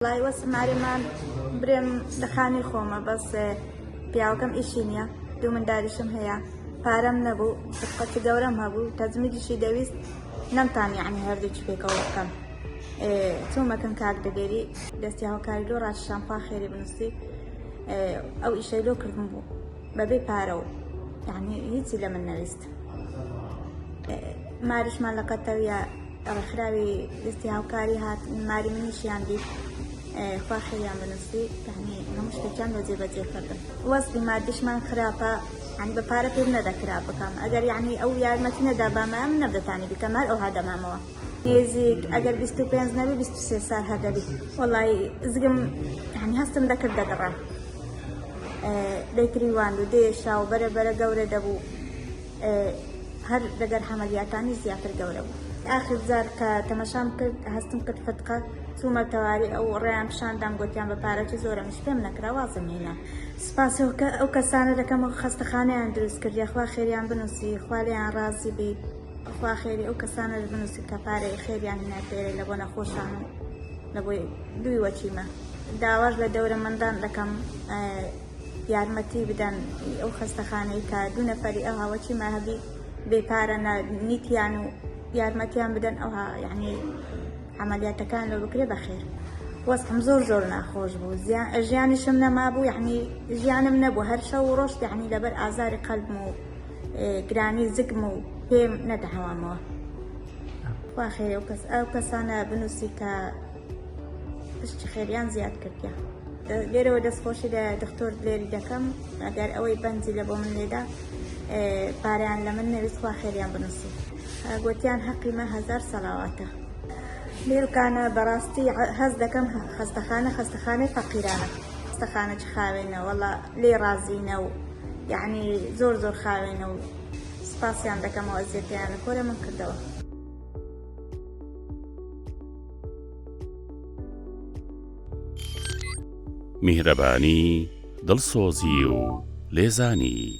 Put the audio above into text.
وەڵای وەسم ئارێمان برێم لە خانی خۆمە بەس پیاوەکەم ئیشی نییە دوو منداریشم هەیە پارەم نەبوو قەتی گەورەم هەبوو تەزمیدیشی دەویست نەمتان یعنی هەردووکی پێکەوە بکەم چۆمەکەم کاک دەگەری دەستی هاوکاری لۆ ڕاش شامپا خێری بنووسی ئەو ئیشەی لۆ کردم بوو بەبێ پارەوە یعنی هیچی لە من نەویست ماریشمان لە قەتەویە ڕێکخراوی دەستی هاوکاری هات ماری منیشیان دیت خوا خێریان بنووسی تەنی هەموو شتێکیان بە جێبەجێ کردن وەستی مادیشمان خراپە عنی بە پارە پێم نەدەکرا بکەم ئەگەر یعنی ئەو یارمەتی نەدا بامە من نەبدەتانی بکەم هەر ئەو هادەمامەوە نێزیک ئەگەر 25 نەبی 23 سال هەدەبی وڵی زگم هەنی هەستم دەکرد دەگەڕا دەیتریوان و دێشا و بەرە بەرە گەورە دەبوو هەر دەگەر حەمەلیاتانی زیاتر گەورە بوو. ئاخر جار کە تەمەشام کرد هەستم کرد فتقە چوومە تەواری ئەو ڕێیان پیشاندام گۆتیان بە پارە چ زۆرە منیش پێم نەکرا وازم هینا سوپاس ئەو کەسانە دەکەم و خەستەخانەیان دروست کرد یاخوا خێریان بنووسی خوا لێیان ڕازی بی خوا خێری ئەو کەسانە بنووسی کە پارەی خێریان هینا فێرە لە بۆ نەخۆشان و لە بۆی دووی وەچیمە داواش لە دەورە مندان دەکەم یارمەتی بدەن ئەو خەستەخانەی کە دوو نەفەری ئەو هاوەچی ماهبی بێپارە نیتیان و یارمەتیان بدەن ئەو یعنی عملیاتەکان لە بکرێ بەخێر وەستم زۆر زۆر ناخۆش بوو ژیانیشم نەمابوو یعنی ژیانم نەبوو هەر شەو و ڕۆشت یعنی لەبەر ئازاری قەلبم و گرانی زگم و پێم نەدەهاوامەوە واخێ ئەو کەسانە بنووسی کە پشتی خێریان زیاد کردە لێرەوە دەستخۆشی لە دکتۆر لێری دەکەم ئەگەر ئەوەی بەنجی لە بۆ من لێدا پاریان لە من نەویستخوا خێریان بنووسی گوتیان حەقیمە هزار سەلاواتە لێرکانە بەڕاستی هەز دەکەم خەستەخانە خەستەخانەی فەقیرانە خەستەخانە چ خاوێنە وەڵا لێ ڕازینە و یعنی زۆر زۆر خاوێنە و سپاسیان دەکەمەوە ئەزیەتیان لە کۆرە من کردەوە میهرەبانی، دڵسۆزی و لێزانی